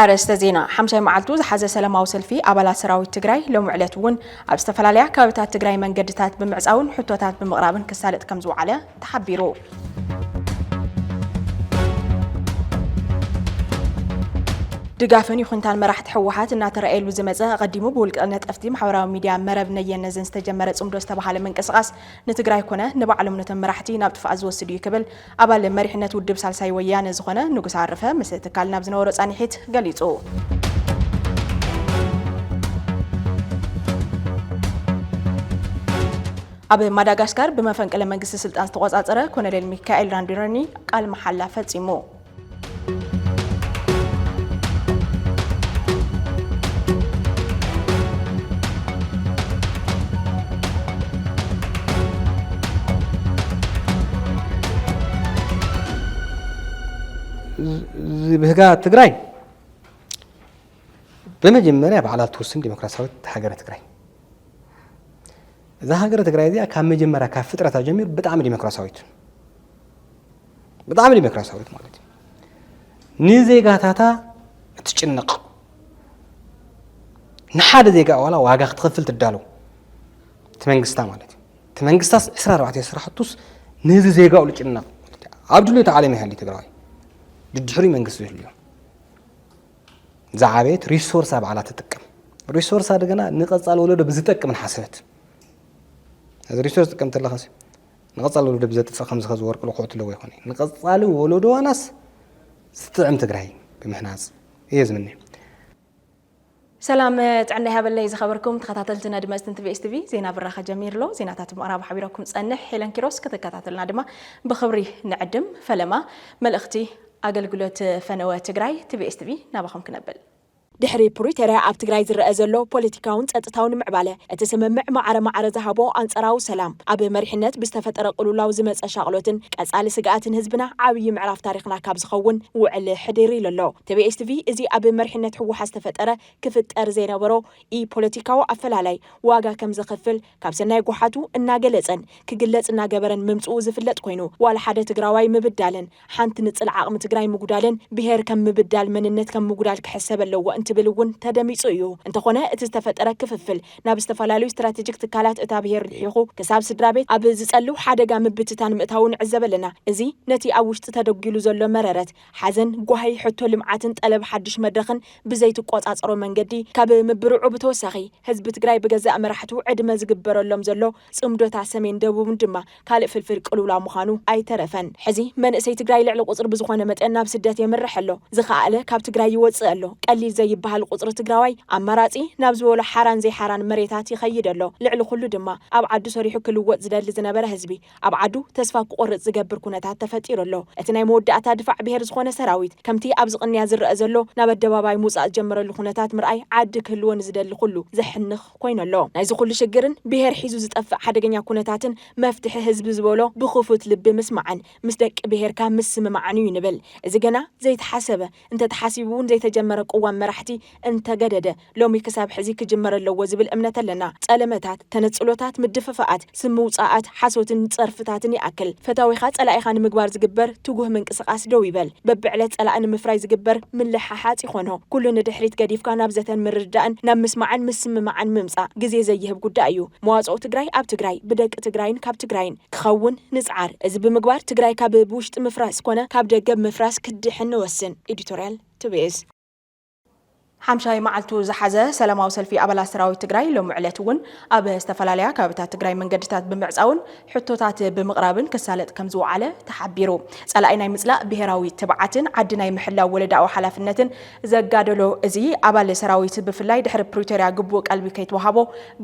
ኣርእስተ ዜና ሓምሻይ መዓልቱ ዝሓዘ ሰላማዊ ሰልፊ ኣባላት ሰራዊት ትግራይ ሎሚ ዕለት እውን ኣብ ዝተፈላለያ ከባቢታት ትግራይ መንገድታት ብምዕፃውን ሕቶታት ብምቕራብን ክሳለጥ ከም ዝወዓለ ተሓቢሩ። ድጋፍን ይኹንታን መራሕቲ ህወሓት እናተረኣየሉ ዝመፀ ኣቐዲሙ ብውልቀ ነጠፍቲ ማሕበራዊ ሚዲያ መረብ ነየነዝን ዝተጀመረ ፅምዶ ዝተባሃለ ምንቅስቓስ ንትግራይ ኮነ ንባዕሎም ነቶም መራሕቲ ናብ ጥፍኣት ዝወስድ እዩ ክብል ኣባል መሪሕነት ውድብ ሳልሳይ ወያነ ዝኾነ ንጉስ ኣረፈ ምስ ትካል ናብ ዝነበሮ ፃኒሒት ገሊፁ። ኣብ ማዳጋስካር ብመፈንቅለ መንግስቲ ስልጣን ዝተቖጻጸረ ኮነሬል ሚካኤል ራንዲረኒ ቃል መሓላ ፈጺሙ። ዝብህጋ ትግራይ በመጀመርያ ባዕላ ትውስን ዲሞክራሲያዊት ሃገረ ትግራይ እዛ ሃገረ ትግራይ እዚኣ ካብ መጀመርያ ካብ ፍጥረታ ጀሚሩ ብጣዕሚ ዲሞክራሲያዊት ብጣዕሚ ዲሞክራሲያዊት ማለት እዩ ንዜጋታታ እትጭነቕ ንሓደ ዜጋ ዋላ ዋጋ ክትኸፍል ትዳለው እቲ መንግስታ ማለት እዩ እቲ መንግስታስ 24 ስራሕቱስ ንዚ ዜጋኡ ዝጭነቕ ኣብ ድልዮ ተዓሊሙ ይሃሊ ትግራዋይ ድድሕሪ መንግስቲ ዝህልዮ ዝዓበየት ሪሶርሳ ባዕላ ትጥቀም ሪሶርሳ ድገና ንቐፃሊ ወለዶ ብዝጠቅም ንሓሰበት እዚ ሪሶርስ ጥቀም ተለኸስ ንቐፃሊ ወለዶ ብዘጥፅእ ከምዚ ከዚ ወርቂ ልክዑ ትለዎ ይኾነ ንቐፃሊ ወለዶ ዋናስ ዝጥዕም ትግራይ ብምሕናፅ እየ ዝምነ ሰላም ጥዕና ይሃበለይ ዝኸበርኩም ተኸታተልቲ ነድመፅትን ቲቪ ኤስቲቪ ዜና ብራኸ ጀሚሩ ኣሎ ዜናታት ምዕራብ ሓቢረኩም ፀንሕ ሄለን ኪሮስ ከተከታተልና ድማ ብክብሪ ንዕድም ፈለማ መልእኽቲ ኣገልግሎት ፈነወ ትግራይ ትቢኤስ ትቪ ናባኹም ክነብል። ድሕሪ ፕሪቶርያ ኣብ ትግራይ ዝረኣ ዘሎ ፖለቲካውን ፀጥታውን ምዕባለ፣ እቲ ስምምዕ ማዕረ ማዕረ ዝሃቦ ኣንፀራዊ ሰላም፣ ኣብ መሪሕነት ብዝተፈጠረ ቅሉውላው ዝመፀ ሻቕሎትን ቀፃሊ ስግኣትን ህዝብና ዓብዪ ምዕራፍ ታሪኽና ካብ ዝኸውን ውዕል ሕድር ኢሉ ኣሎ። ትቢኤስ ትቪ እዚ ኣብ መሪሕነት ህወሓት ዝተፈጠረ ክፍጠር ዘይነበሮ ኢ-ፖለቲካዊ ኣፈላላይ ዋጋ ከምዘኽፍል ካብ ሰናይ ጎሓቱ እናገለጸን ክግለጽ እናገበረን ምምጽኡ ዝፍለጥ ኮይኑ፣ ዋላ ሓደ ትግራዋይ ምብዳለን፣ ሓንቲ ንጽል ዓቕሚ ትግራይ ምጉዳልን ብሄር ከም ምብዳል መንነት ከም ምጉዳል ክሕሰብ ኣለዎ እንትብል እውን ተደሚጹ እዩ። እንተኾነ እቲ ዝተፈጠረ ክፍፍል ናብ ዝተፈላለዩ ስትራቴጂክ ትካላት እታ ብሄር ልሒኹ ክሳብ ስድራቤት ኣብ ዝጸልው ሓደጋ ምብትታን ምእታዉ ንዕዘብ ኣለና። እዚ ነቲ ኣብ ውሽጢ ተደጒሉ ዘሎ መረረት ሓዘን፣ ጓሂ፣ ሕቶ ልምዓትን ጠለብ ሓዱሽ መድረኽን ብዘይትቆፃፀሮ መንገዲ ካብ ምብርዑ ብተወሳኺ ህዝቢ ትግራይ ብገዛእ መራሕቱ ዕድመ ዝግበረሎም ዘሎ ፅምዶታ ሰሜን ደቡብን ድማ ካልእ ፍልፍል ቅልውላው ምዃኑ ኣይተረፈን። ሕዚ መንእሰይ ትግራይ ልዕሊ ቁፅሪ ብዝኾነ መጠን ናብ ስደት የምርሕ ኣሎ። ዝኸኣለ ካብ ትግራይ ይወፅእ ኣሎ። ቀሊል ዘይበሃል ቁፅሪ ትግራዋይ ኣማራፂ ናብ ዝበሎ ሓራን ዘይሓራን መሬታት ይኸይድ ኣሎ። ልዕሊ ኹሉ ድማ ኣብ ዓዱ ሰሪሑ ክልወጥ ዝደሊ ዝነበረ ህዝቢ ኣብ ዓዱ ተስፋ ክቆርጽ ዝገብር ኩነታት ተፈጢሩ ኣሎ። እቲ ናይ መወዳእታ ድፋዕ ብሄር ዝኾነ ሰራዊት ከምቲ ኣብዚ ቅንያ ዝረኣ ዘሎ ናብ ኣደባባይ ምውጻእ ዝጀመረሉ ኩነታት ምርኣይ ዓዲ ክህልዎ ንዝደሊ ኩሉ ዘሕንኽ ኮይኑ ኣሎ። ናይዚ ኩሉ ሽግርን ብሄር ሒዙ ዝጠፍእ ሓደገኛ ኩነታትን መፍትሒ ህዝቢ ዝበሎ ብክፉት ልቢ ምስማዕን ምስ ደቂ ብሄርካ ምስምማዕን እዩ ንብል። እዚ ገና ዘይተሓሰበ እንተተሓሲቡ'ውን ዘይተጀመረ ቅዋም መራሕቲ እንተገደደ ሎሚ ክሳብ ሕዚ ክጅመር ኣለዎ ዝብል እምነት ኣለና። ጸለመታት፣ ተነጽሎታት፣ ምድፍፋኣት፣ ስም ምውጻኣት፣ ሓሶትን ጸርፍታትን ይኣክል። ፈታዊኻ ጸላኢኻ ንምግባር ዝግበር ትጉህ ምንቅስቓስ ደው ይበል። በብዕለት ጸላኢ ንምፍራይ ዝግበር ምልሕሓጽ ይኾኖ ኩሉ ንድሕሪት ገዲፍካ ናብ ዘተን ምርድዳእን ናብ ምስማዕን ምስምማዕን ምምጻእ ግዜ ዘይህብ ጉዳይ እዩ። መዋጽኦ ትግራይ ኣብ ትግራይ፣ ብደቂ ትግራይን ካብ ትግራይን። ክኸውን ንጽዓር። እዚ ብምግባር ትግራይ ካብ ብውሽጢ ምፍራስ ኮነ ካብ ደገ ብምፍራስ ክትድሕን ንወስን። ኤዲቶርያል፣ TBS። ሓምሻይ መዓልቱ ዝሓዘ ሰላማዊ ሰልፊ ኣባላት ሰራዊት ትግራይ ሎሚ ዕለት እውን ኣብ ዝተፈላለያ ከባቢታት ትግራይ መንገድታት ብምዕፃውን ሕቶታት ብምቕራብን ክሳለጥ ከምዝወዓለ ተሓቢሩ። ፀላኢ ናይ ምፅላእ ብሄራዊ ትብዓትን ዓዲ ናይ ምሕላው ወለዳዊ ሓላፍነትን ዘጋደሎ እዚ ኣባል ሰራዊት ብፍላይ ድሕሪ ፕሪቶርያ ግቡእ ቀልቢ ከይተወሃቦ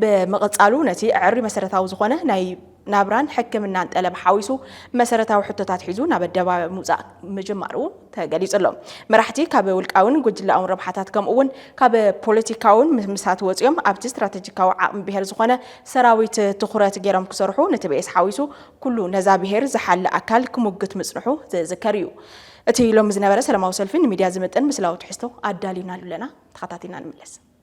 ብምቕፃሉ ነቲ ዕዕሪ መሰረታዊ ዝኾነ ናይ ናብራን ሕክምናን ጠለብ ሓዊሱ መሰረታዊ ሕቶታት ሒዙ ናብ ኣደባባይ ምውፃእ ምጅማሩ ተገሊፁ ኣሎ። መራሕቲ ካብ ውልቃውን ጉጅለኣውን ረብሓታት ከምኡ እውን ካብ ፖለቲካውን ምምስራት ወፂኦም ኣብቲ ስትራተጂካዊ ዓቕሚ ብሄር ዝኾነ ሰራዊት ትኹረት ገይሮም ክሰርሑ ንትቤኤስ ሓዊሱ ኩሉ ነዛ ብሄር ዝሓሊ ኣካል ክሙግት ምፅንሑ ዝዝከር እዩ። እቲ ሎሚ ዝነበረ ሰላማዊ ሰልፊ ንሚድያ ዝምጥን ምስላዊ ትሕዝቶ ኣዳሊናሉ ኣለና። ተኸታቲልና ንመለስ።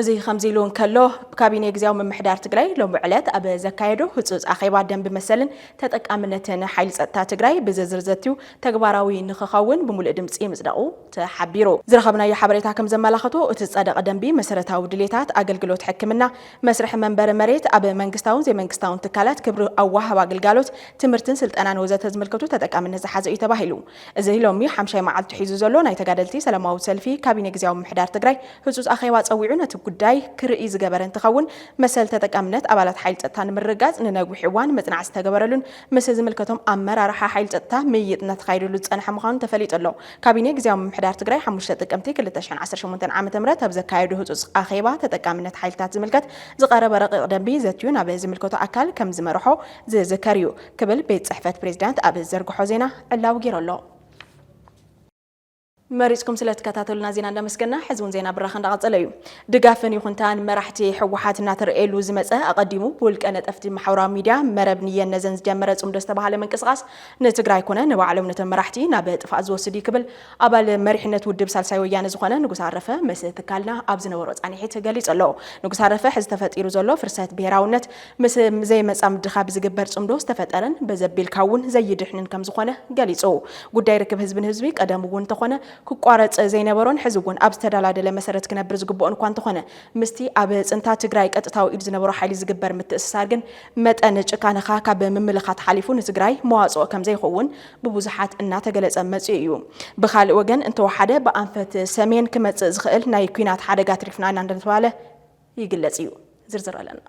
እዚ ከምዚ ኢሉ እንከሎ ካቢኔ ግዝያዊ ምምሕዳር ትግራይ ሎሚ ዕለት ኣብ ዘካየዶ ህፁፅ ኣኼባ ደንቢ መሰልን ተጠቃምነትን ሓይሊ ፀጥታ ትግራይ ብዝርዝር ዘትዩ ተግባራዊ ንክኸውን ብምሉእ ድምፂ ምፅደቑ ተሓቢሩ። ዝረኸብናዮ ሓበሬታ ከምዘመላኸቶ እቲ ዝፀደቐ ደንቢ መሰረታዊ ድሌታት፣ ኣገልግሎት ሕክምና፣ መስርሒ መንበሪ መሬት፣ ኣብ መንግስታውን ዘይመንግስታውን ትካላት ክብሪ ኣወሃህባ ግልጋሎት፣ ትምህርትን ስልጠናን ወዘተ ዝምልከቱ ተጠቃምነት ዝሓዘ እዩ ተባሂሉ። እዚ ሎሚ ሓምሻይ መዓልቱ ሒዙ ዘሎ ናይ ተጋደልቲ ሰለማዊ ሰልፊ ካቢኔ ግዝያዊ ምምሕዳር ትግራይ ህፁፅ ኣኼባ ፀዊዑ ነቲ ጉዳይ ክርእይ ዝገበረ እንትኸውን መሰል ተጠቃምነት ኣባላት ሓይሊ ፀጥታ ንምርግጋፅ ንነዊሕ እዋን መፅናዕቲ ዝተገበረሉን ምስ ዝምልከቶም ኣመራርሓ ሓይሊ ፀጥታ ምይይጥ እናተኻየደሉ ዝፀንሐ ምዃኑ ተፈሊጡ ኣሎ። ካቢኔ ግዝያዊ ምምሕዳር ትግራይ ሓሙሽተ ጥቅምቲ ክልተ ሽሕን ዓሰርተ ሸሞንተን ዓመተ ምህረት ኣብ ዘካየዶ ህፁፅ ኣኼባ ተጠቃምነት ሓይልታት ዝምልከት ዝቐረበ ረቂቕ ደንቢ ዘትዩ ናብ ዝምልከቶ ኣካል ከምዝመርሖ ዝዝከር እዩ ክብል ቤት ጽሕፈት ፕሬዚዳንት ኣብ ዝዘርግሖ ዜና ዕላዊ ገይሩ ኣሎ። መሪፅኩም ስለትከታተሉና ዜና እንዳመስገና ሕዚ እውን ዜና ብራኸ እንዳቐፀለ እዩ። ድጋፍን ይኹንታን መራሕቲ ህወሓት እናተረእየሉ ዝመፀ ኣቐዲሙ ብውልቀ ነጠፍቲ ማሕበራዊ ሚዲያ መረብ ንየን ነዘን ዝጀመረ ፅምዶ ዝተባሃለ ምንቅስቓስ ንትግራይ ኮነ ንባዕሎም ነቶም መራሕቲ ናብ ጥፍኣት ዝወስድ እዩ ክብል ኣባል መሪሕነት ውድብ ሳልሳይ ወያነ ዝኾነ ንጉስ ኣረፈ ምስ ትካልና ኣብ ዝነበሮ ፃኒሒት ገሊፁ ኣሎ። ንጉስ ኣረፈ ሕዚ ተፈጢሩ ዘሎ ፍርሰት ብሄራውነት ምስ ዘይመፃምድኻ ብዝግበር ፅምዶ ዝተፈጠረን በዘቢልካ እውን ዘይድሕንን ከምዝኾነ ገሊፁ። ጉዳይ ርክብ ህዝቢ ንህዝቢ ቀደም እውን እንተኾነ ክቋረፅ ዘይነበሮን ሕዚ እውን ኣብ ዝተደላደለ መሰረት ክነብር ዝግበኦን እኳ እንተኾነ ምስቲ ኣብ ፅንታ ትግራይ ቀጥታዊ ኢድ ዝነበሮ ሓይሊ ዝግበር ምትእስሳር ግን መጠን ጭካነኻ ካብ ምምልኻት ሓሊፉ ንትግራይ መዋፅኦ ከምዘይኸውን ብብዙሓት እናተገለፀ መፂኡ እዩ። ብኻሊእ ወገን እንተወሓደ ብኣንፈት ሰሜን ክመፅእ ዝኽእል ናይ ኲናት ሓደጋ ኣትሪፍና ኢና እንዳተብሃለ ይግለጽ እዩ ዝርዝር ኣለና።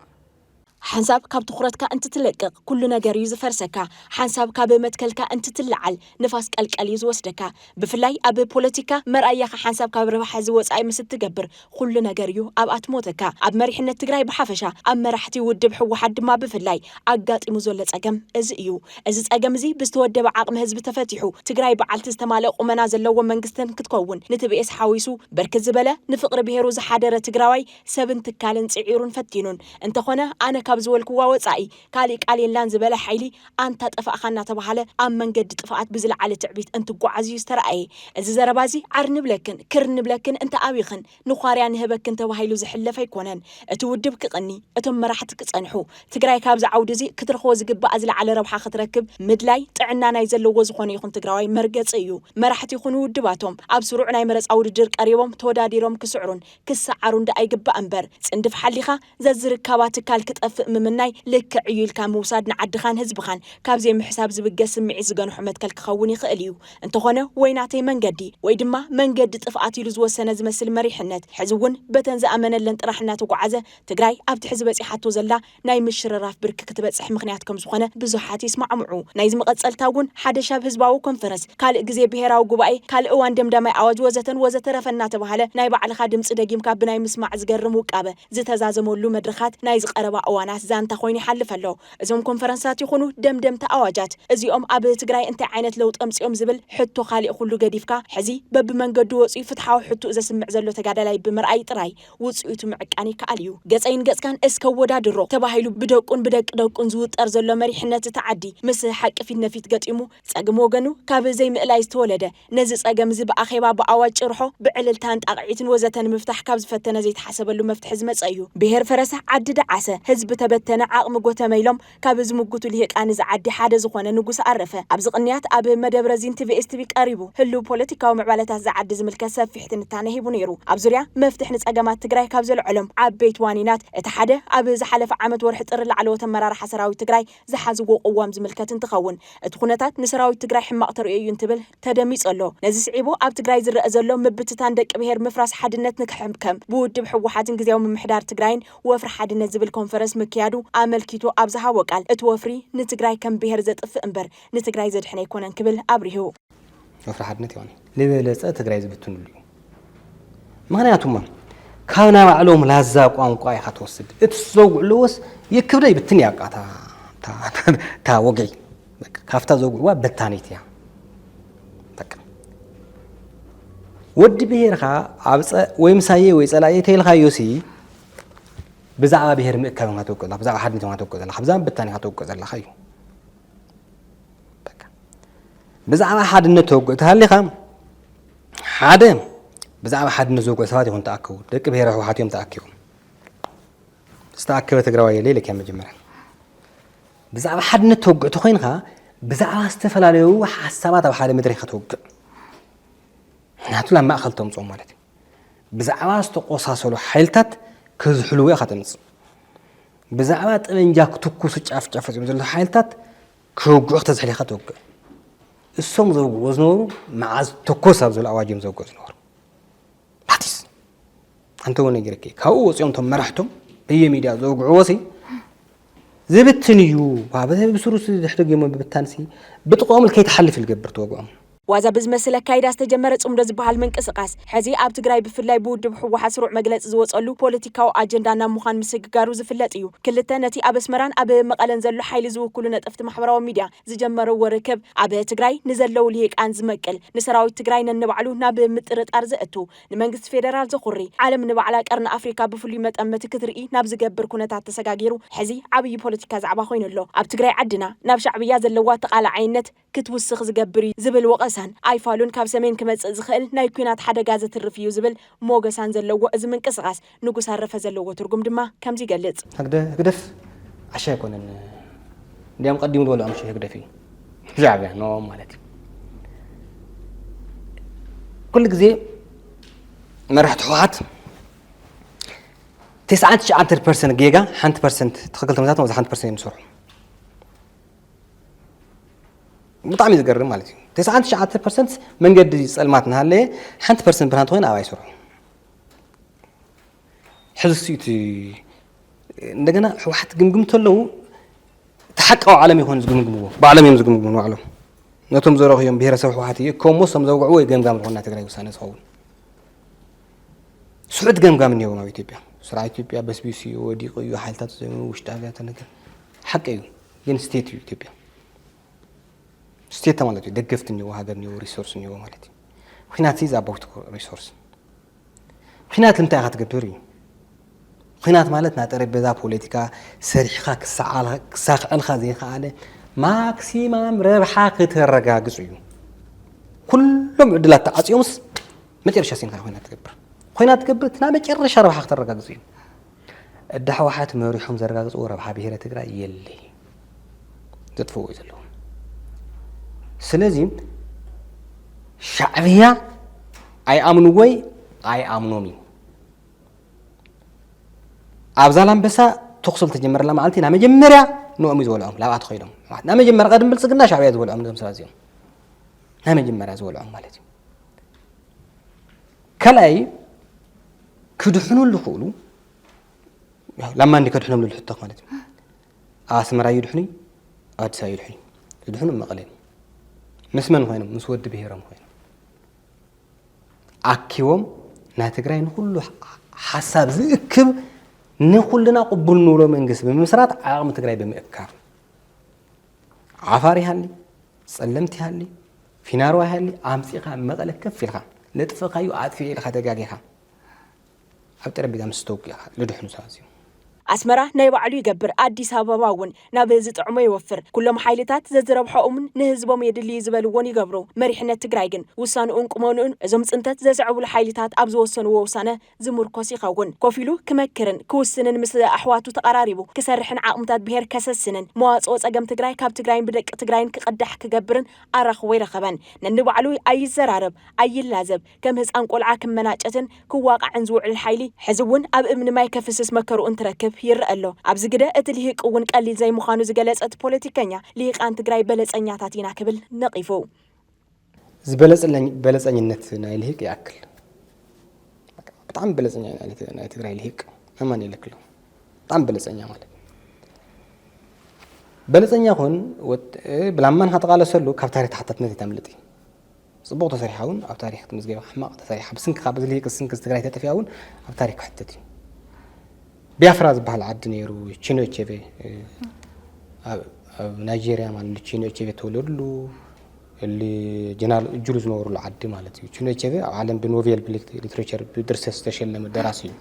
ሓንሳብ ካብ ትኹረትካ እንትትለቅቕ ኩሉ ነገር እዩ ዝፈርሰካ። ሓንሳብ ካብ መትከልካ እንትትለዓል ንፋስ ቀልቀል እዩ ዝወስደካ። ብፍላይ ኣብ ፖለቲካ መርኣያኻ ሓንሳብ ካብ ረብሓ እዚ ወጻኢ ምስ እትገብር ኹሉ ነገር እዩ ኣብ ኣትሞተካ። ኣብ መሪሕነት ትግራይ ብሓፈሻ ኣብ መራሕቲ ውድብ ህወሓት ድማ ብፍላይ ኣጋጢሙ ዘሎ ጸገም እዚ እዩ። እዚ ፀገም እዚ ብዝተወደበ ዓቕሚ ህዝቢ ተፈቲሑ ትግራይ በዓልቲ ዝተማልእ ቁመና ዘለዎ መንግስቲ ክትከውን ንትብኤስ ሓዊሱ ብርክት ዝበለ ንፍቕሪ ብሄሩ ዝሓደረ ትግራዋይ ሰብን ትካልን ፅዒሩን ፈቲኑን። እንተኾነ ኣነ ካብ ዝበልኩዋ ወፃኢ ካሊእ ቃል የላን ዝበለ ሓይሊ ኣንታ ጠፋእኻ እናተብሃለ ኣብ መንገዲ ጥፍኣት ብዝለዓለ ትዕቢት እንትጓዓዝ እዩ ዝተርኣየ። እዚ ዘረባ እዚ ዓር ንብለክን ክር ንብለክን እንተኣብይኽን ንዃርያ ንህበክን ተባሂሉ ዝሕለፍ ኣይኮነን። እቲ ውድብ ክቕኒ፣ እቶም መራሕቲ ክጸንሑ፣ ትግራይ ካብዚ ዓውዲ እዚ ክትረኽቦ ዝግባእ ዝለዓለ ረብሓ ክትረክብ ምድላይ ጥዕና ናይ ዘለዎ ዝኾነ ይኹን ትግራዋይ መርገጺ እዩ። መራሕቲ ይኹኑ ውድባቶም ኣብ ስሩዕ ናይ መረጻ ውድድር ቀሪቦም ተወዳዲሮም ክስዕሩን ክሰዓሩን ደኣ ይግባእ እምበር ጽንድፍ ሓሊኻ ዘዝርካባ ትካል ክጠፍእ ምምናይ ልክዕ እዩ ኢልካ ምውሳድ ንዓድኻን ህዝብኻን ካብ ዘይምሕሳብ ዝብገስ ስምዒት ዝገንሖ መትከል ክኸውን ይኽእል እዩ። እንተኾነ ወይ ናተይ መንገዲ ወይ ድማ መንገዲ ጥፍኣት ኢሉ ዝወሰነ ዝመስል መሪሕነት ሕዚ እውን በተን ዝኣመነለን ጥራሕ እናተጉዓዘ ትግራይ ኣብቲ ሕዚ በፂሓቶ ዘላ ናይ ምሽርራፍ ብርኪ ክትበፅሕ ምኽንያት ከምዝኾነ ብዙሓት ይስማዕምዑ። ናይዚ መቐፀልታ እውን ሓደሻብ ህዝባዊ ኮንፈረስ ካልእ ግዜ ብሄራዊ ጉባኤ፣ ካልእ እዋን ደምዳማይ ኣዋጅ ወዘተን ወዘተረፈን እናተባህለ ናይ ባዕልኻ ድምጺ ደጊምካ ብናይ ምስማዕ ዝገርም ውቃበ ዝተዛዘመሉ መድረኻት ናይዚ ቀረባ እዋናት ዛንታ ኮይኑ ይሓልፍ ኣሎ። እዞም ኮንፈረንሳት ይኹኑ ደምደምታ ኣዋጃት እዚኦም ኣብ ትግራይ እንታይ ዓይነት ለውጢ ኣምጺኦም ዝብል ሕቶ ካሊእ ኩሉ ገዲፍካ ሕዚ በብመንገዱ ወጺኡ ፍትሓዊ ሕቱኡ ዘስምዕ ዘሎ ተጋዳላይ ብምርኣይ ጥራይ ውጽኢቱ ምዕቃን ይከኣል እዩ። ገጸይን ገጽካን እስከ ኣወዳድሮ ተባሂሉ ብደቁን ብደቂ ደቁን ዝውጠር ዘሎ መሪሕነት እታ ዓዲ ምስ ሓቂ ፊት ነፊት ገጢሙ ጸግም ወገኑ ካብ ዘይምእላይ ዝተወለደ፣ ነዚ ጸገም'ዚ ብኣኼባ፣ ብኣዋጅ ጭርሖ፣ ብዕልልታን ጣቕዒትን ወዘተ ንምፍታሕ ካብ ዝፈተነ ዘይተሓሰበሉ መፍትሒ ዝመጸ እዩ። ብሄር ፈረሰ፣ ዓዲ ደዓሰ፣ ህዝቢ ተበተነ፣ ዓቕሚ ጎተመ ኢሎም ካብ ዝምጉቱ ልሂቃን እዛ ዓዲ ሓደ ዝኾነ ንጉሰ ኣረፈ። ኣብዚ ቅንያት ኣብ መደብረዚን ቲቪኤስቲቪ ቀሪቡ ህሉው ፖለቲካዊ ምዕባለታት እዛ ዓዲ ዝምልከት ሰፊሕ ትንታነ ሂቡ ነይሩ። ኣብ ዙርያ መፍትሕ ንጸገማት ትግራይ ካብ ዘልዐሎም ዓበይቲ ዋኒናት እቲ ሓደ ኣብ ዝሓለፈ ዓመት ወርሒ ጥሪ ላዕለዎት ኣመራርሓ ሰራዊት ትግራይ ዝሓዝዎ ቅዋም ዝምልከት እንትኸውን፣ እቲ ኩነታት ንሰራዊት ትግራይ ሕማቕ ተርእዮ እዩ እንትብል ተደሚፁ ኣሎ። ነዚ ስዒቡ ኣብ ትግራይ ዝረኣ ዘሎ ምብትታን ደቂ ብሄር ምፍራስ ሓድነት ንክሕምከም ብውድብ ህወሓትን ግዝያዊ ምምሕዳር ትግራይን ወፍሪ ሓድነት ዝብል ኮንፈረንስ ምክያዱ ኣመልኪቱ ኣብ ዝሃቦ ቃል እቲ ወፍሪ ንትግራይ ከም ብሄር ዘጥፍእ እምበር ንትግራይ ዘድሕን ኣይኮነን ክብል ኣብሪሁ። ወፍሪ ሓድነት ይኾን ንበለፀ ትግራይ ዝብትንሉ እዩ ምክንያቱም ካብ ናይ ባዕሎም ላዛ ቋንቋ ኢኻ ትወስድ እቲ ዘውግዕለዎስ የክብደ ይብትን እያ ቃታ እታ ወግዒ ካብታ ዘውግዕዋ በታኒት እያ ወዲ ብሄርካ ኣብ ወይ ምሳየ ወይ ፀላየ ተይልካዮ ሲ ብዛዕባ ብሄር ምእካብ ኢኻ ተውቅዕ ዘለካ ብዛዕባ ሓድነት ኢኻ ተውቅዕ ዘለካ ብዛዕባ በታኒ ኢኻ ተውቅዕ ዘለካ እዩ ብዛዕባ ሓድነት ተወግኦ ተሃሊኻ ሓደ ብዛዕባ ሓድነት ዝወግኦ ሰባት ይኹን ተኣከቡ ደቂ ብሄረ ህወሓት እዮም ተኣኪቦም ዝተኣከበ ትግራዋይ የለ ኢለካ መጀመርያ ብዛዕባ ሓድነት ተወግኦ ተኮይንካ ብዛዕባ ዝተፈላለዩ ሓሳባት ኣብ ሓደ መድረክ ከተወግእ ምክንያቱ ናብ ማእኸል ተምፅኦ ማለት እዩ ብዛዕባ ዝተቆሳሰሉ ሓይልታት ከዝሕልዎ ኢኻ ተምፅእ ብዛዕባ ጠበንጃ ክትኩሱ ጫፍጫፍ ፈፂሙ ዘሎ ሓይልታት ክወግዑ ክተዝሕሊኻ ትወግዕ እሶም ዘውግዎ ዝነበሩ መዓዝ ተኮስ ኣብ ዝብል ኣዋጅ እዮም ዘውግዑ ዝነበሩ ሓቲስ ኣንተ ወነ ገረከ ካብኡ ወፂኦም ቶም መራሕቶም በየ ሚድያ ዘውግዕዎ ሲ ዝብትን እዩ ብስሩ ድሕሪ ገሞ ብብታንሲ ብጥቕኦም ከይትሓልፍ ዝገብር ተወግዖም ዋዛ ብዝመስል ኣካይዳ ዝተጀመረ ፅምዶ ዝበሃል ምንቅስቓስ ሕዚ ኣብ ትግራይ ብፍላይ ብውድብ ህወሓት ስሩዕ መግለፂ ዝወፀሉ ፖለቲካዊ ኣጀንዳ ናብ ምዃን ምስግጋሩ ዝፍለጥ እዩ። ክልተ ነቲ ኣብ ኣስመራን ኣብ መቐለን ዘሎ ሓይሊ ዝውክሉ ነጠፍቲ ማሕበራዊ ሚድያ ዝጀመርዎ ርክብ ኣብ ትግራይ ንዘለው ልሂቃን ዝመቅል፣ ንሰራዊት ትግራይ ነንባዕሉ ናብ ምጥርጣር ዘእቱ፣ ንመንግስቲ ፌደራል ዘኹሪ፣ ዓለም ንባዕላ ቀርኒ ኣፍሪካ ብፍሉይ መጠመቲ ክትርኢ ናብ ዝገብር ኩነታት ተሰጋጊሩ ሕዚ ዓብዪ ፖለቲካ ዛዕባ ኮይኑ ኣሎ። ኣብ ትግራይ ዓድና ናብ ሻዕብያ ዘለዋ ተቓላዓይነት፣ ክትውስኽ ዝገብር እዩ ዝብል ወቐሳን ኣይፋሉን ካብ ሰሜን ክመጽእ ዝኽእል ናይ ኲናት ሓደጋ ዘትርፍ እዩ ዝብል ሞገሳን ዘለዎ እዚ ምንቅስቓስ ንጉስ ኣረፈ ዘለዎ ትርጉም ድማ ከምዚ ይገልጽ። ህግደፍ ዓሻ ኣይኮነን እንዲያም ቀዲሙ ዝበሎ ኣምሽ ህግደፍ እዩ ሻዕብያ ንኦም ማለት እዩ ኩሉ ግዜ መራሕቲ ህወሓት ትስዓን ትሽዓንተን ፐርሰንት ጌጋ ሓንቲ ፐርሰንት ትኽክል ተመዛትም ኣብዚ ሓንቲ ፐርሰንት እዮም ዝሰርሑ ብጣዕሚ ዝገርም ማለት እዩ ተስዓን ትሽዓተ ፐርሰንት መንገዲ ፀልማት እናሃለየ ሓንቲ ፐርሰንት ብርሃን ተኮይና ኣብ ኣይስርሑ ሕዚ ሲ እቲ እንደገና ሕወሓት ግምግም ተለዉ እቲ ሓቃዊ ዓለም ይኮን ዝግምግምዎ ባዕሎም እዮም ዝግምግሙ ንባዕሎም ነቶም ዘረኽዮም ብሄረሰብ ሕወሓት እዩ እኮ እሞ ሶም ዘውግዕዎ እዩ ገምጋም ዝኾን ናይ ትግራይ ውሳነ ዝኸውን ስሑት ገምጋም እኒሄዎም ኣብ ኢትዮጵያ ስርዓት ኢትዮጵያ በስቢሱ እዩ ወዲቑ እዩ ሓይልታት ዘኑ ውሽጣ ነገር ሓቂ እዩ ግን ስቴት እዩ ኢትዮጵያ ስቴት ማለት እዩ ደገፍቲ እኒዎ ሃገር እኒዎ ሪሶርስ እኒዎ ማለት እዩ ኩናት ሲ ኣባውት ሪሶርስ ኩናት እንታይ ኢኻ ትገብር እዩ ኩናት ማለት ናይ ጠረጴዛ ፖለቲካ ሰሪሕኻ ክሳክዐልካ ዘይከኣለ ማክሲማም ረብሓ ክተረጋግፅ እዩ ኩሎም ዕድላት ተዓፅዮምስ መጨረሻ ሲንካ ኮይና ትገብር ኮይና ትገብር እቲ ናይ መጨረሻ ረብሓ ክተረጋግፅ እዩ እዳ ሕዋሓት መሪሖም ዘረጋግፅዎ ረብሓ ብሄረ ትግራይ የለይ ዘጥፍእዎ እዩ ዘለዉ ስለዚ ሻዕብያ ኣይኣምንዎይ ኣይኣምኖም እዩ ኣብ ዛላምበሳ ተኩሲ ዝተጀመረላ መዓልቲ ናይ መጀመርያ ንኦም እዩ ዝበልዖም ላብኣ ተኸይዶም ናይ መጀመርያ ቀደም ብልፅግና ሻዕብያ ዝበልዖም እዞም ሰባት እዚኦም ናይ መጀመርያ ዝበልዖም ማለት እዩ ካልኣይ ክድሕኑ ዝኽእሉ ላማ እንዲ ከድሕኖም ዝብል ሕቶ ማለት እዩ ኣብ ኣስመራ እዩ ድሕኑ ኣብ ኣዲስ ኣበባ እዩ ድሕኑ ዝድሕኑ መቐለ እዩ ምስ መን ኮይኖም ምስ ወዲ ብሄሮም ኮይኖም ኣኪቦም ናይ ትግራይ ንኩሉ ሓሳብ ዝእክብ ንኩልና ቅቡል ንብሎ መንግስቲ ብምምስራት ዓቕሚ ትግራይ ብምእካብ ዓፋር ይሃሊ ፀለምቲ ይሃሊ ፊናሮ ኣይሃሊ ኣምጺኻ ኣብ መቐለ ከፍ ኢልኻ ለጥፍእካዮ ኣጥፊኤ ኢልካ ተጋጊኻ ኣብ ጠረጴዛ ምስ ተውቂዕካ ልድሕኑ ሰባት እዚኦም። ኣስመራ ናይ ባዕሉ ይገብር ኣዲስ ኣበባ እውን ናብ ዝጥዕሞ ይወፍር ኩሎም ሓይልታት ዘዝረብሖኡምን ንህዝቦም የድሊ እዩ ዝበልዎን ይገብሩ መሪሕነት ትግራይ ግን ውሳንኡን ቁመንኡን እዞም ፅንተት ዘስዕቡሉ ሓይልታት ኣብ ዝወሰንዎ ውሳነ ዝምርኮስ ይኸውን። ኮፍ ኢሉ ክመክርን ክውስንን ምስ ኣሕዋቱ ተቐራሪቡ ክሰርሕን ዓቕምታት ብሄር ከሰስንን መዋጽኦ ጸገም ትግራይ ካብ ትግራይን ብደቂ ትግራይን ክቕዳሕ ክገብርን ኣራኽቦ ኣይረኸበን። ነንባዕሉ ኣይዘራረብ ኣይላዘብ ከም ህጻን ቆልዓ ክመናጨትን ክዋቓዕን ዝውዕል ሓይሊ ሕዚ እውን ኣብ እምኒ ማይ ከፍስስ መከርኡ እንትረክብ ይረኣ ኣሎ። ኣብዚ ግደ እቲ ሊሂቅ እውን ቀሊል ዘይምዃኑ ዝገለጸ እቲ ፖለቲከኛ፣ ሊሂቃን ትግራይ በለጸኛታት ኢና ክብል ነቒፉ። ዝበለጽለኝ በለጸኝነት ናይ ልሂቅ ይኣክል ብጣዕሚ በለጸኛ ናይ ትግራይ ልሂቅ ኣማኒኤል ክሎ ብጣዕሚ በለጸኛ ማለት በለጸኛ ኹን ብላማን ሃተቓለሰሉ ካብ ታሪክ ተሓታትነት የተምልጥ እዩ ጽቡቕ ተሰሪሓ እውን ኣብ ታሪክ ክትምዝገብ ሕማቕ ተሰሪሓ ብስንኪ ካብ እዚ ልሂቅ ስንኪ ትግራይ ተጠፊኣ እውን ኣብ ታሪክ ክሕተት እዩ ቢያፍራ ዝበሃል ዓዲ ነይሩ ቺኖ ቼቬ ኣብ ናይጀሪያ ማለት ቺኖ ቼቬ ተወለድሉ እሊ ጀነራል እጁሉ ዝነበሩሉ ዓዲ ማለት እዩ። ቺኖቼቨ ኣብ ዓለም ብኖቬል ሊትሬቸር ብድርሰት ዝተሸለመ ደራሲ እዩ።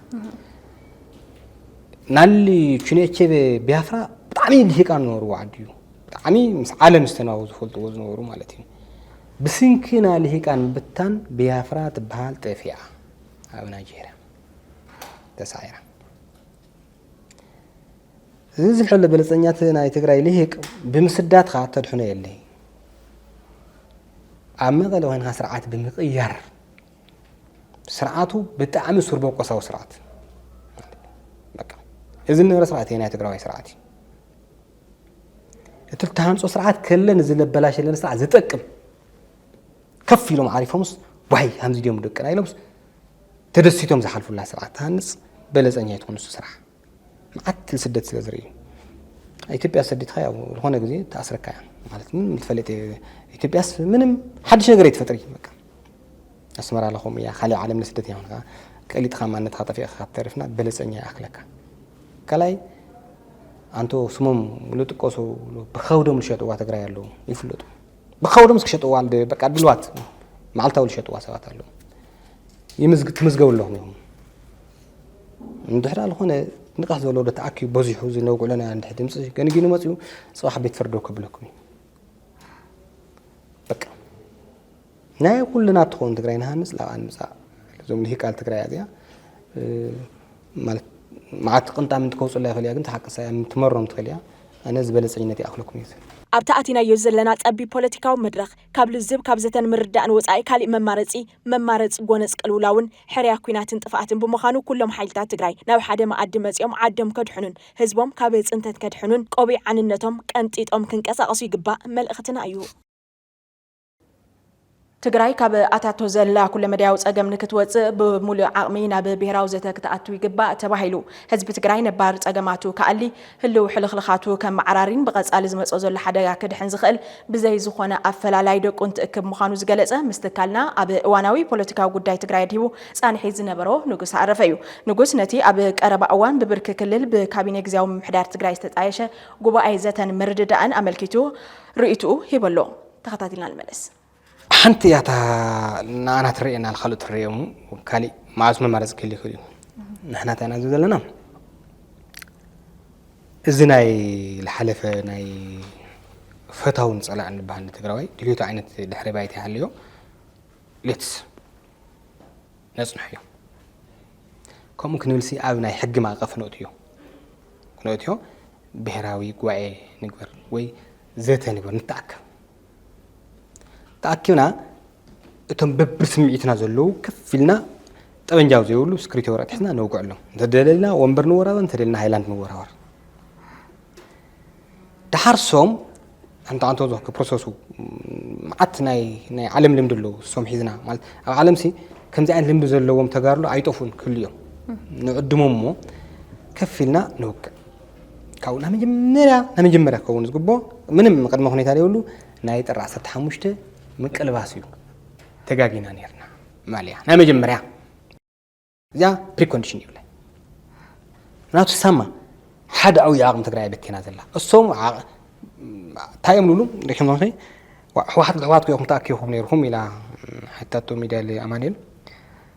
ናሊ ቺኖቼቨ ቢያፍራ ብጣዕሚ ልሂቃን ዝነበርዎ ዓዲ እዩ። ብጣዕሚ ምስ ዓለም ዝተናወ ዝፈልጥዎ ዝነበሩ ማለት እዩ። ብስንኪ ናይ ልሂቃን ምብታን ቢያፍራ ትበሃል ጠፊኣ ኣብ ናይጀርያ ተሳዒራ። እዚ ዝሕል ብልፀኛት ናይ ትግራይ ልሂቅ ብምስዳትካ ተድሕኖ የለይ ኣብ መቐለ ኮይንካ ስርዓት ብምቕያር ስርዓቱ ብጣዕሚ ሱር በቆሳዊ ስርዓት እዚ ንረ ስርዓት እዩ ናይ ትግራዋይ ስርዓት እዩ እቲ ተሃንፆ ስርዓት ከለን እዚ ለበላሸለን ስርዓት ዝጠቅም ከፍ ኢሎም ዓሪፎምስ ዋይ ከምዚ ድዮም ደቅና ኢሎምስ ተደሲቶም ዝሓልፉላ ስርዓት ትሃንፅ በለፀኛ ኣይትኹን ንሱ ስራሕ መዓት ስደት ስለ ዝርእዩ ኢትዮጵያ ሰዲትካ ያው ዝኾነ ግዜ ተኣስረካ እያ ማለት ምንም ትፈልጥ ኢትዮጵያስ ምንም ሓድሽ ነገር ኣይትፈጥሪ በቃ ኣስመራ ኣለኹም እያ ካልእ ዓለም ንስደት እያ ኾንካ ቀሊጥኻ ማንነትካ ጠፊእኻ ካብ ተሪፍና በለፀኛ ይኣክለካ ካልኣይ ኣንቶ ስሞም ዝጥቀሱ ብኸብዶም ዝሸጥዋ ትግራይ ኣለዉ ይፍለጡ ብከውዶ ምስ ክሸጥዋ ብ በቃ ድልዋት መዓልታዊ ዝሸጥዋ ሰባት ኣለዉ ይምዝግ ትምዝገቡ ኣለኹም ኢኹም እንድሕር ዝኾነ ንቕሕ ዝበለ ወደ ተኣኪቡ በዚሑ እዚ ነውግዕለና እንድሕ ድምፂ ገንጊኑ መፅኡ ፅባሕ ቤት ፍርዶ ከብለኩም እዩ በቃ ናይ ኩልና ትኸውን ትግራይ ንሃንፅ ላብኣ ንምፃእ እዞም ልሂቃል ትግራይ እዚኣ ማለት መዓት ቅንጣም እንትከውፅላ ይክእል እያ ግን ትሓቂ ሳያ ምትመሮም ትክእል እያ ኣነ ዝበለፀኝነት ይኣክለኩም እዩ ዝብል። ኣብቲ ኣቲናዮ ዘለና ጸቢብ ፖለቲካዊ መድረኽ፣ ካብ ልዝብ ካብ ዘተን ምርዳእን ወጻኢ ካሊእ መማረጺ፣ መማረጽ ጎነጽ ቅልውላውን፣ ሕርያ ኩናትን ጥፍኣትን ብምዃኑ ኩሎም ሓይልታት ትግራይ ናብ ሓደ መኣዲ መጺኦም ዓዶም ከድሕኑን ህዝቦም ካብ ጽንተት ከድሕኑን ቆቢዕ ዓንነቶም ቀንጢጦም ክንቀሳቀሱ ይግባእ መልእኽትና እዩ። ትግራይ ካብ ኣታቶ ዘላ ኩለመዳያዊ ፀገም ንክትወፅእ ብሙሉእ ዓቕሚ ናብ ብሄራዊ ዘተ ክትኣቱ ይግባእ ተባሂሉ። ህዝቢ ትግራይ ነባር ፀገማቱ ክኣሊ፣ ህልው ሕልኽልኻቱ ከመዓራሪን ብቐፃሊ ዝመፅኦ ዘሎ ሓደጋ ክድሕን ዝኽእል ብዘይ ዝኾነ ኣፈላላይ ደቁ እንትእክብ ምዃኑ ዝገለፀ ምስ ትካልና ኣብ እዋናዊ ፖለቲካዊ ጉዳይ ትግራይ ኣድሂቡ ፃንሒት ዝነበሮ ንጉስ ኣረፈ እዩ። ንጉስ ነቲ ኣብ ቀረባ እዋን ብብርኪ ክልል ብካቢኔ ግዝያዊ ምምሕዳር ትግራይ ዝተጣየሸ ጉባኤ ዘተን ምርድዳእን ኣመልኪቱ ርኢትኡ ሂቡ ኣሎ። ተኸታቲልና ንመለስ። ሓንቲ እያ እታ ንኣና ትርኤና ንካልኦት ትርኤሙ ካሊእ መዓዝ መማረፂ ክህል ይኽእል እዩ ንሕና እንታይ ኢና ዝብል ዘለና እዚ ናይ ዝሓለፈ ናይ ፈታውን ፀላእን ዝበሃል ንትግራዋይ ድልዮቱ ዓይነት ድሕሪ ባይታ ይሃልዮ ሌትስ ነፅንሐዮ ከምኡ ክንብልሲ ኣብ ናይ ሕጊ ማእቐፍ ነእትዮ ክነእትዮ ብሄራዊ ጉባኤ ንግበር ወይ ዘተ ንግበር ንተኣከብ ተኣኪብና እቶም በብስምዒትና ዘለዉ ከፍ ኢልና ጠበንጃው ዘይብሉ ስክሪቶ ወረቀት ሒዝና ነውግዐሎም እንተደለልና ወንበር ንወራበር እንተደለና ሃይላንድ ንወራበር ድሓር ሶም ሓንቲ ዓንቶ ዞ ክፕሮሰሱ መዓት ናይ ናይ ዓለም ልምዲ ኣለዎ ሶም ሒዝና ማለት ኣብ ዓለምሲ ከምዚ ዓይነት ልምዲ ዘለዎም ተጋርሎ ኣይጠፉን ክህሉ እዮም ንዕድሞም እሞ ከፍ ኢልና ንውግዕ ካብኡ ናይ መጀመርያ ናይ መጀመርያ ክኸውን ዝግብኦ ምንም ቅድመ ኩኔታ ዘይብሉ ናይ ጥሪ ዓሰርተ ሓሙሽተ ምቅልባስ እዩ ተጋጊና ነርና ማልያ ናይ መጀመርያ እዚኣ ፕሪኮንዲሽን ይብለ ናቱ ሳማ ሓደ ዓብዪ ዓቕሚ ትግራይ በቲና ዘላ እሶም እንታይ እዮም ልብሉ ሪክም ሕወሓት ብሕወሓት ኮይኹም ተኣኪኹም ነይርኩም ኢላ ሕታቶ ሚድያ ኣማኒኤል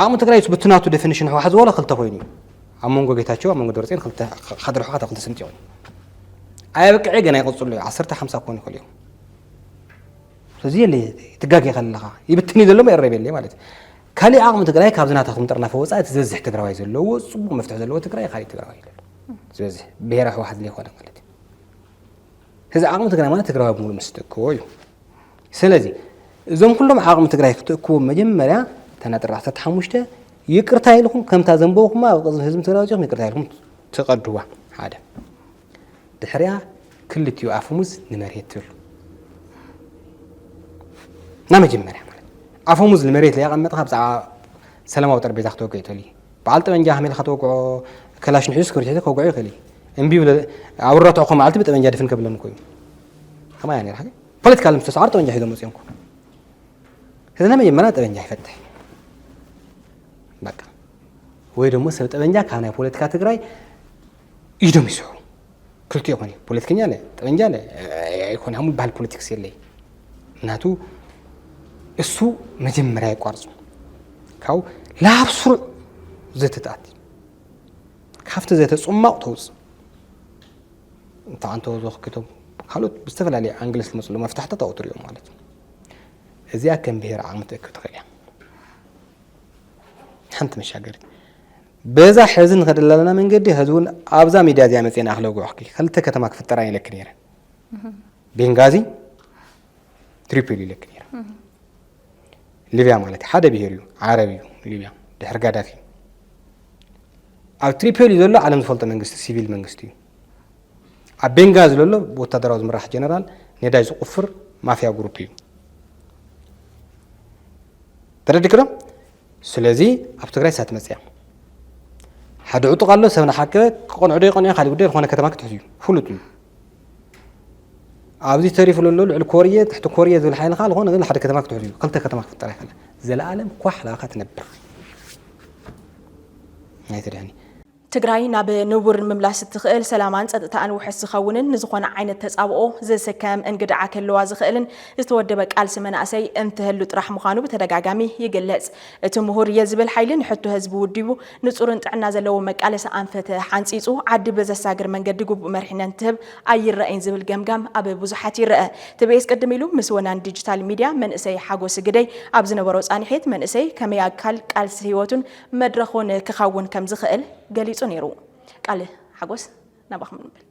ዓቕሚ ትግራይ ብትናቱ ዴፊኒሽን ህወሓት ዝበሎ ክልተ ኮይኑ እዩ ኣብ መንጎ ጌታቸው ኣብ መንጎ ደብረፅዮን ክልተ ሓደ ርሑኻት ክልተ ስንጥዮ ኣየብቅዐ ገና ይቕፅሉ እዩ ዓሰርተ ሓምሳ ክኾኑ ይኽእሉ እዮም ስለዚ የለ ትጋጌ ከለኻ ይብትን እዩ ዘሎ መረብ የለ ማለት እዩ ካልእ ዓቕሚ ትግራይ ካብ ዝናታኹም ጥርናፈ ወፃኢ እቲ ዝበዝሕ ትግራዋይ ዘለዎ ፅቡቕ መፍትሒ ዘለዎ ትግራይ ካልእ ትግራዋይ ዝበዝሕ ብሄረ ህወሓት ዘይኮነ ማለት እዩ ሕዚ ዓቕሚ ትግራይ ማለት ትግራዊ ብምሉእ ምስ ትእክቦ እዩ። ስለዚ እዞም ኩሎም ዓቕሚ ትግራይ ክትእክቦም መጀመርያ እታ ነጥሪ ዓሰርተ ሓሙሽተ ይቅርታ ኢልኩም ከምታ ዘንበብኩማ ኣብ ቅድሚ ህዝቢ ትግራይ ወፂኹም ይቅርታ ኢልኩም ትቀድዋ ሓደ ድሕሪያ ክልቲኡ ኣፈሙዝ ንመሬት ትብሉ እና መጀመርያ ማለት ኣፈሙዝ ንመሬት ለየቐመጥካ ብዛዕባ ሰላማዊ ጠረጴዛ ክትወገ ይተልዩ በዓል ጠበንጃ ከመይ ኢልካ ትወቅዖ ከላሽን ሒዙ ስክርቢት ሒዙ ከውግዖ ይኽእል እዩ እምቢ ይብለ ኣብ ረትዕኹ መዓልቲ ብጠበንጃ ድፍን ከብለኒ ኮይኑ ከምኣ እያ ነራ ፖለቲካ ምስ ተሰዓሩ ጠበንጃ ሒዞም መፅኦም ኮ ስለዚ ናይ መጀመርያ ጠበንጃ ይፈትሕ በቃ ወይ ደግሞ ሰብ ጠበንጃ ካብ ናይ ፖለቲካ ትግራይ ኢዶም ይስዕሩ ክልቲኦ ኮን እዩ ፖለቲከኛ ለ ጠበንጃ ለ ኣይኮነ ኣሙ ባህል ፖለቲክስ የለይ ምክንያቱ እሱ መጀመሪያ ይቋርፁ ካብ ላብ ስሩዕ ዘተትኣት ካብቲ ዘተ ፅማቕ ተውፅ እንተ ኣንተ ዘክኪቶም ካልኦት ብዝተፈላለየ ኣንግለስ ዝመፅሉ መፍታሕታት ኣብኡ ትሪኦም ማለት እዩ እዚኣ ከም ብሄር ዓቕሚ ትእክብ ትኽእል እያ ሓንቲ መሻገሪት በዛ ሐዚ ንኸደላ ዘለና መንገዲ ሐዚ እውን ኣብዛ ሚድያ እዚኣ መፅኤ ንኣክለ ጉዕኽኪ ኸልተ ከተማ ክፍጠራ ኢለኪ ነይረ ቤንጋዚ ትሪፖሊ ኢለኪ ነይረ ሊብያ ማለት እዩ ሓደ ብሄር እዩ ዓረብ እዩ ሊብያ ድሕሪ ጋዳፊ ኣብ ትሪፖሊ ዘሎ ዓለም ዝፈልጦ መንግስቲ ሲቪል መንግስቲ እዩ ኣብ ቤንጋዚ ዘሎ ወታደራዊ ዝምራሕ ጀነራል ነዳጅ ዝቁፍር ማፍያ ግሩፕ እዩ ተረዲክዶ ስለዚ ኣብ ትግራይ እሳት መፅያ ሓደ ዕጡቕ ኣሎ ሰብ ንሓከበ ክቐንዕዶ ይቐንዐ ካልእ ጉዳይ ዝኾነ ከተማ ክትሕዝ እዩ ፍሉጥ እዩ ኣብዚ ተሪፉ ዘሎ ልዕሊ ኮርየ ትሕቲ ኮርየ ዝብል ሓይሊ ከዓ ዝኾነ ግን ሓደ ከተማ ክትሕዝ እዩ ክልተ ከተማ ክፍጠር ኣይከለ ዘለኣለም ኳሕ ላካ ትነብር ናይ ተድሕኒ ትግራይ ናብ ንቡር ንምምላስ እትኽእል ሰላማን ፀጥታኣን ውሕስ ዝኸውንን ንዝኾነ ዓይነት ተፃብኦ ዝስከም እንግድዓ ክህልዋ ዝኽእልን ዝተወደበ ቃልሲ መናእሰይ እንትህሉ ጥራሕ ምዃኑ ብተደጋጋሚ ይግለፅ። እቲ ምሁር እየ ዝብል ሓይሊ ንሕቶ ህዝቢ ውዲቡ ንፁርን ጥዕና ዘለዎ መቃለሲ ኣንፈት ሓንፂፁ ዓዲ ብዘሳግር መንገዲ ግቡእ መሪሕነት እንትህብ ኣይረኣይን ዝብል ገምጋም ኣብ ብዙሓት ይረኣ። ትቤኤስ ቅድም ኢሉ ምስ ወናኒ ዲጂታል ሚዲያ መንእሰይ ሓጎስ ግደይ ኣብ ዝነበሮ ፃኒሒት መንእሰይ ከመይ ኣካል ቃልሲ ህይወቱን መድረኽ ውን ክኸውን ከም ዝኽእል ገሊጹ ነይሩ። ቃል ሓጎስ ናባኹም ንብል።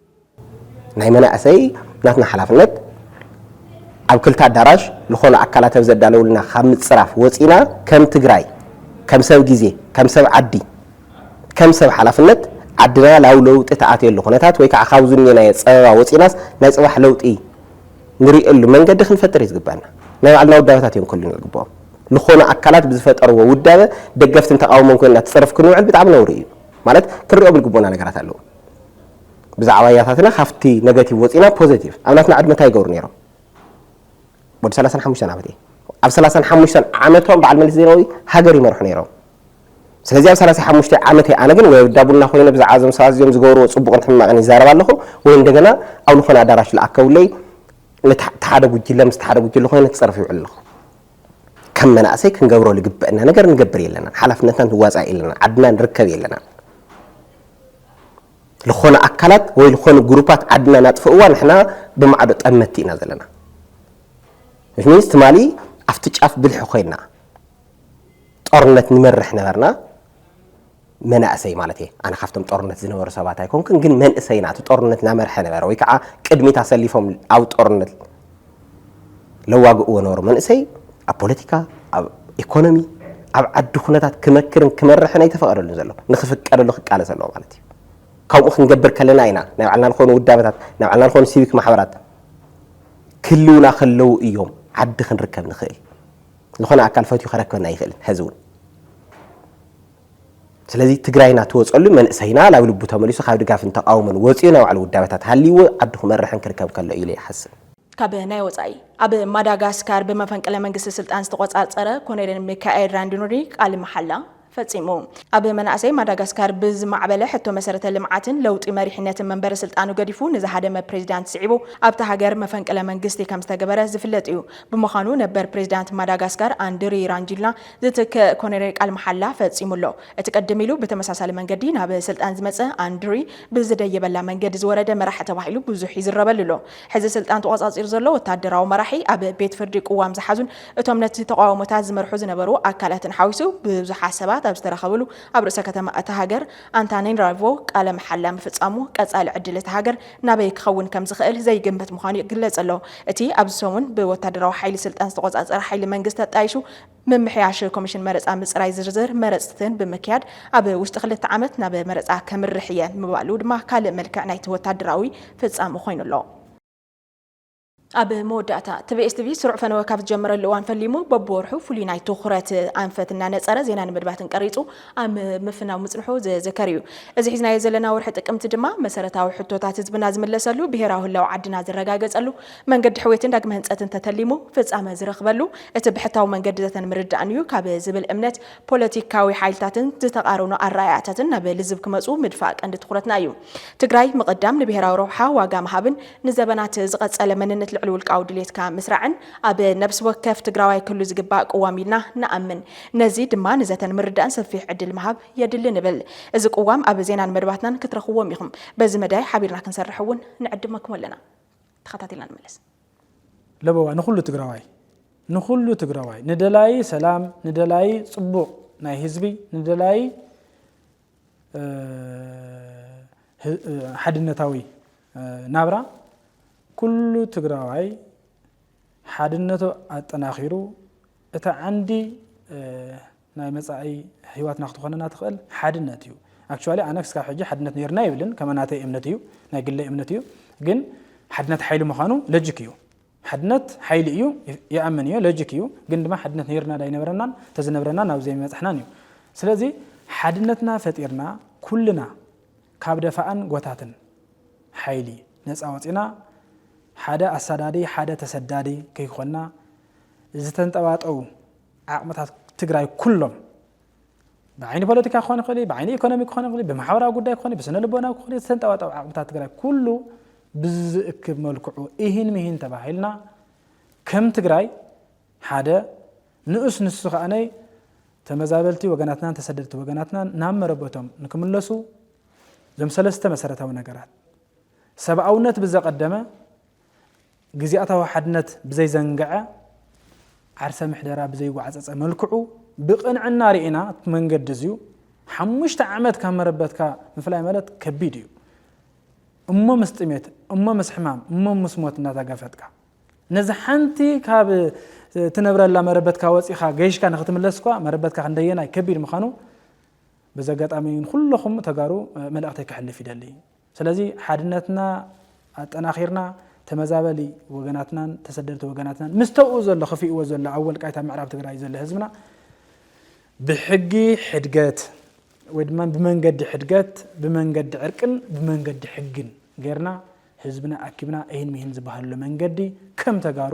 ናይ መናእሰይ ናትና ሓላፍነት ኣብ ክልተ ኣዳራሽ ልኾኑ ኣካላት ኣብ ዘዳለውልና ካብ ምጽራፍ ወጺና ከም ትግራይ ከም ሰብ ግዜ ከም ሰብ ዓዲ ከም ሰብ ሓላፍነት ዓድና ላብ ለውጢ ትኣትየሉ ኩነታት ወይ ከዓ ካብ ዝንየናዮ ጸበባ ወጺናስ ናይ ጽባሕ ለውጢ ንርእየሉ መንገዲ ክንፈጥር እዩ ዝግበኣና። ናይ ባዕልና ውዳበታት እዮም ክህሉና ዝግበኦም። ልኾኑ ኣካላት ብዝፈጠርዎ ውዳበ ደገፍትን ተቓውሞን ኮይንና ትጽርፍ ክንውዕል ብጣዕሚ ነውሪ እዩ። ማለት ክንርእዮም ልግበኡና ነገራት ኣለዉ። ብዛዕባ ያታትና ካብቲ ነገቲቭ ወጺእና ፖዘቲቭ ኣብ ናትና ዕድመ እንታይ ይገብሩ ነይሮም? ወዲ ሰላሳን ሓሙሽተን ዓመት እየ። ኣብ ሰላሳን ሓሙሽተን ዓመቶም በዓል መለስ ዜናዊ ሃገር ይመርሑ ነይሮም። ስለዚ ኣብ ሳላሳይ ሓሙሽተይ ዓመተይ ኣነ ግን ወይ ኣብ እዳቡና ኮይነ ብዛዕባ እዞም ሰባት እዚኦም ዝገብርዎ ጽቡቕን ሕማቕን ይዛረብ ኣለኹ ወይ እንደገና ኣብ ልኾነ ኣዳራሽ ልኣከቡለይ ነቲ ሓደ ጉጅለ ምስቲ ሓደ ጉጅለ ኮይነ ክጸርፍ ይውዕል ኣለኹ። ከም መናእሰይ ክንገብሮ ልግበእና ነገር ንገብር የለናን፣ ሓላፍነትና ንዋጻእ የለናን፣ ዓድና ንርከብ የለናን። ልኾነ ኣካላት ወይ ልኾኑ ግሩፓት ዓድና ናጥፍእዋ ንሕና ብማዕዶ ጠመቲ ኢና ዘለና። which means ትማሊ ኣብቲ ጫፍ ብልሒ ኮይና ጦርነት ንመርሕ ነበርና መናእሰይ ማለት እየ ኣነ ካብቶም ጦርነት ዝነበሩ ሰባት ኣይኮንኩን ግን መንእሰይና እቲ ጦርነት ናመርሐ ነበረ ወይ ከዓ ቅድሚት ኣሰሊፎም ኣብ ጦርነት ለዋግእዎ ነበሩ መንእሰይ ኣብ ፖለቲካ ኣብ ኢኮኖሚ ኣብ ዓዲ ኩነታት ክመክርን ክመርሕን ኣይተፈቐደሉን ዘሎ ንክፍቀደሉ ክቃለስ ኣለዎ ማለት እዩ ካብኡ ክንገብር ከለና ኢና ናይ ባዕልና ዝኾኑ ውዳበታት ናይ ባዕልና ዝኾኑ ሲቪክ ማሕበራት ክልውና ከለዉ እዮም ዓዲ ክንርከብ ንኽእል ዝኾነ ኣካል ፈትዩ ከረክበና ኣይኽእልን ሐዚ እውን ስለዚ ትግራይና ትወፀሉ መንእሰይና ናብ ልቡ ተመሊሱ ካብ ድጋፍን ተቃውሞን ወፂኡ ናይ ባዕሉ ውዳበታት ሃልይዎ ዓዱ ክመርሕን ክርከብ ከሎ ኢለ ይሓስብ። ካብ ናይ ወፃኢ ኣብ ማዳጋስካር ብመፈንቅለ መንግስቲ ስልጣን ዝተቖፃፀረ ኮሎኔል ሚካኤል ራንዲኑሪ ቃል መሓላ ፈጺሙ ኣብ መናእሰይ ማዳጋስካር ብዝማዕበለ ሕቶ መሰረተ ልምዓትን ለውጢ መሪሕነትን መንበሪ ስልጣኑ ገዲፉ ንዝሃደመ ፕሬዚዳንት ስዒቡ ኣብታ ሃገር መፈንቅለ መንግስቲ ከምዝተገበረ ዝፍለጥ እዩ። ብምዃኑ ነበር ፕሬዚዳንት ማዳጋስካር ኣንድሪ ራንጂልና ዝትክእ ኮነሬል ቃል መሓላ ፈጺሙ ኣሎ። እቲ ቅድም ኢሉ ብተመሳሳሊ መንገዲ ናብ ስልጣን ዝመፀ ኣንድሪ ብዝደየበላ መንገዲ ዝወረደ መራሒ ተባሂሉ ብዙሕ ይዝረበሉ ኣሎ። ሕዚ ስልጣን ተቖጻጺሩ ዘሎ ወተሃደራዊ መራሒ፣ ኣብ ቤት ፍርዲ ቅዋም ዝሓዙን እቶም ነቲ ተቓውሞታት ዝመርሑ ዝነበሩ ኣካላትን ሓዊሱ ብዙሓት ሰባት ኣብ ዝተረኸብሉ ኣብ ርእሰ ከተማ እታ ሃገር ኣንታናናሪቮ ቃለ መሓላ ምፍጻሙ ቀጻሊ ዕድል እታ ሃገር ናበይ ክኸውን ከም ዝኽእል ዘይግመት ምዃኑ ይግለጽ ኣሎ። እቲ ኣብዚ ሰሙን ብወተሃደራዊ ሓይሊ ስልጣን ዝተቖጻጸረ ሓይሊ መንግስቲ ኣጣይሹ ምምሕያሽ ኮሚሽን መረፃ ምፅራይ ዝርዝር መረፅትን ብምክያድ ኣብ ውሽጢ ክልተ ዓመት ናብ መረፃ ከምርሕ እየ ምባሉ ድማ ካልእ መልክዕ ናይቲ ወታደራዊ ፍፃመ ኮይኑ ኣሎ። ኣብ መወዳእታ፣ ትቤኤስቲቪ ስሩዕ ፈነወ ካብ ዝጀመረሉ እዋን ፈሊሙ በብወርሑ ፍሉይ ናይ ትኹረት ኣንፈት እናነፀረ ዜናን መድባትን ቀሪፁ ኣብ ምፍናው ምፅንሑ ዝዝከር እዩ። እዚ ሒዝናዮ ዘለና ወርሒ ጥቅምቲ ድማ መሰረታዊ ሕቶታት ህዝብና ዝምለሰሉ፣ ብሄራዊ ህላወ ዓድና ዝረጋገፀሉ፣ መንገዲ ሕውየትን ዳግመ ህንፀትን ተተሊሙ ፍፃመ ዝረኽበሉ እቲ ብሕታዊ መንገዲታትን ምርዳእን እዩ ካብ ዝብል እምነት ፖለቲካዊ ሓይልታትን ዝተቓረኑ ኣረኣእያታትን ናብ ልዝብ ክመፁ ምድፋእ ቀንዲ ትኹረትና እዩ። ትግራይ ምቕዳም፣ ንብሄራዊ ረብሓ ዋጋ ምሃብን ንዘበናት ዝቐፀለ መንነት ልዕሊ ውልቃዊ ድልየትካ ምስራዕን ኣብ ነብሲ ወከፍ ትግራዋይ ክህሉ ዝግባእ ቅዋም ኢልና ንኣምን። ነዚ ድማ ንዘተን ምርዳእን ሰፊሕ ዕድል ምሃብ የድሊ ንብል። እዚ ቅዋም ኣብ ዜናን መደባትናን ክትረኽብዎም ኢኹም። በዚ መዳይ ሓቢርና ክንሰርሕ እውን ንዕድመኩም ኣለና። ተኸታቲልና ንመለስ። ለበዋ ንኹሉ ትግራዋይ ንኹሉ ትግራዋይ ንደላዪ ሰላም ንደላዪ ፅቡቕ ናይ ህዝቢ ንደላዪ ሓድነታዊ ናብራ ኩሉ ትግራዋይ ሓድነቱ ኣጠናኺሩ እታ ዓንዲ ናይ መጻኢ ሂዋትና ክትኾነና ትኽእል ሓድነት እዩ ኣክቹዋሊ ኣነ ክስካብ ሕጂ ሓድነት ነይርና ኣይብልን ከም ናተይ እምነት እዩ ናይ ግለይ እምነት እዩ ግን ሓድነት ሓይሊ ምዃኑ ለጅክ እዩ ሓድነት ሓይሊ እዩ ይኣምን እዮ ለጅክ እዩ ግን ድማ ሓድነት ነይርና ዳይነበረናን ተዝነብረናን ኣብ ዘይመጻሕናን እዩ ስለዚ ሓድነትና ፈጢርና ኩልና ካብ ደፋእን ጎታትን ሓይሊ ነፃ ወፂና ሓደ ኣሳዳዲ ሓደ ተሰዳዲ ከይኮና ዝተንጠባጠቡ ዓቕምታት ትግራይ ኩሎም ብዓይኒ ፖለቲካ ክኾን ይኽእል ብዓይኒ ኢኮኖሚ ክኾን ይኽእል ብማሕበራዊ ጉዳይ ክኾን ብስነ ልቦናዊ ክኾን ዝተንጠባጠቡ ዓቕምታት ትግራይ ኩሉ ብዝእክብ መልክዑ ኢሂን ምሂን ተባሂልና ከም ትግራይ ሓደ ንኡስ ንሱ ከኣነይ ተመዛበልቲ ወገናትናን ተሰደድቲ ወገናትናን ናብ መረበቶም ንክምለሱ እዞም ሰለስተ መሰረታዊ ነገራት ሰብኣውነት ብዘቐደመ ግዝያታዊ ሓድነት ብዘይዘንገዐ፣ ዓርሰ ምሕደራ ብዘይጓዕጸጸ መልክዑ ብቕንዕና ርኢና እቲ መንገዲ እዚዩ ሓሙሽተ ዓመት ካብ መረበትካ ምፍላይ ማለት ከቢድ እዩ እሞ ምስ ጥሜት እሞ ምስ ሕማም እሞ ምስ ሞት እናተጋፈጥካ ነዚ ሓንቲ ካብ ትነብረላ መረበትካ ወፂኻ ገይሽካ ንክትምለስ እኳ መረበትካ ክንደየናይ ከቢድ ምዃኑ በዚ ኣጋጣሚ ንኩለኹም ተጋሩ መልእኽተይ ክሕልፍ ይደሊ ስለዚ ሓድነትና ኣጠናኺርና ተመዛበሊ ወገናትናን ተሰደድቲ ወገናትናን ምስ ተብኡ ዘሎ ክፍእዎ ዘሎ ኣብ ወልቃይት ኣብ ምዕራብ ትግራይ ዘሎ ህዝብና ብሕጊ ሕድገት ወይ ድማ ብመንገዲ ሕድገት ብመንገዲ ዕርቅን ብመንገዲ ሕግን ጌርና ህዝብና ኣኪብና እሂን ምሂን ዝበሃለሉ መንገዲ ከም ተጋሩ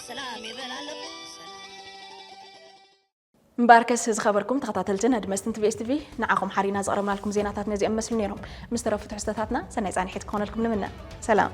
ሰላም ይበል ኣለኹ እምበኣርከስ ዝኸበርኩም ተኸታተልትን ኣድመስትን ትቪኤስ ቲቪ ንዓኹም ሓሪና ዘቕረብናልኩም ዜናታት ነዚኦም መስሉ ነይሮም ምስ ተረፉ ትሕዝቶታትና ሰናይ ፃንሒት ክኾነልኩም ንምነ ሰላም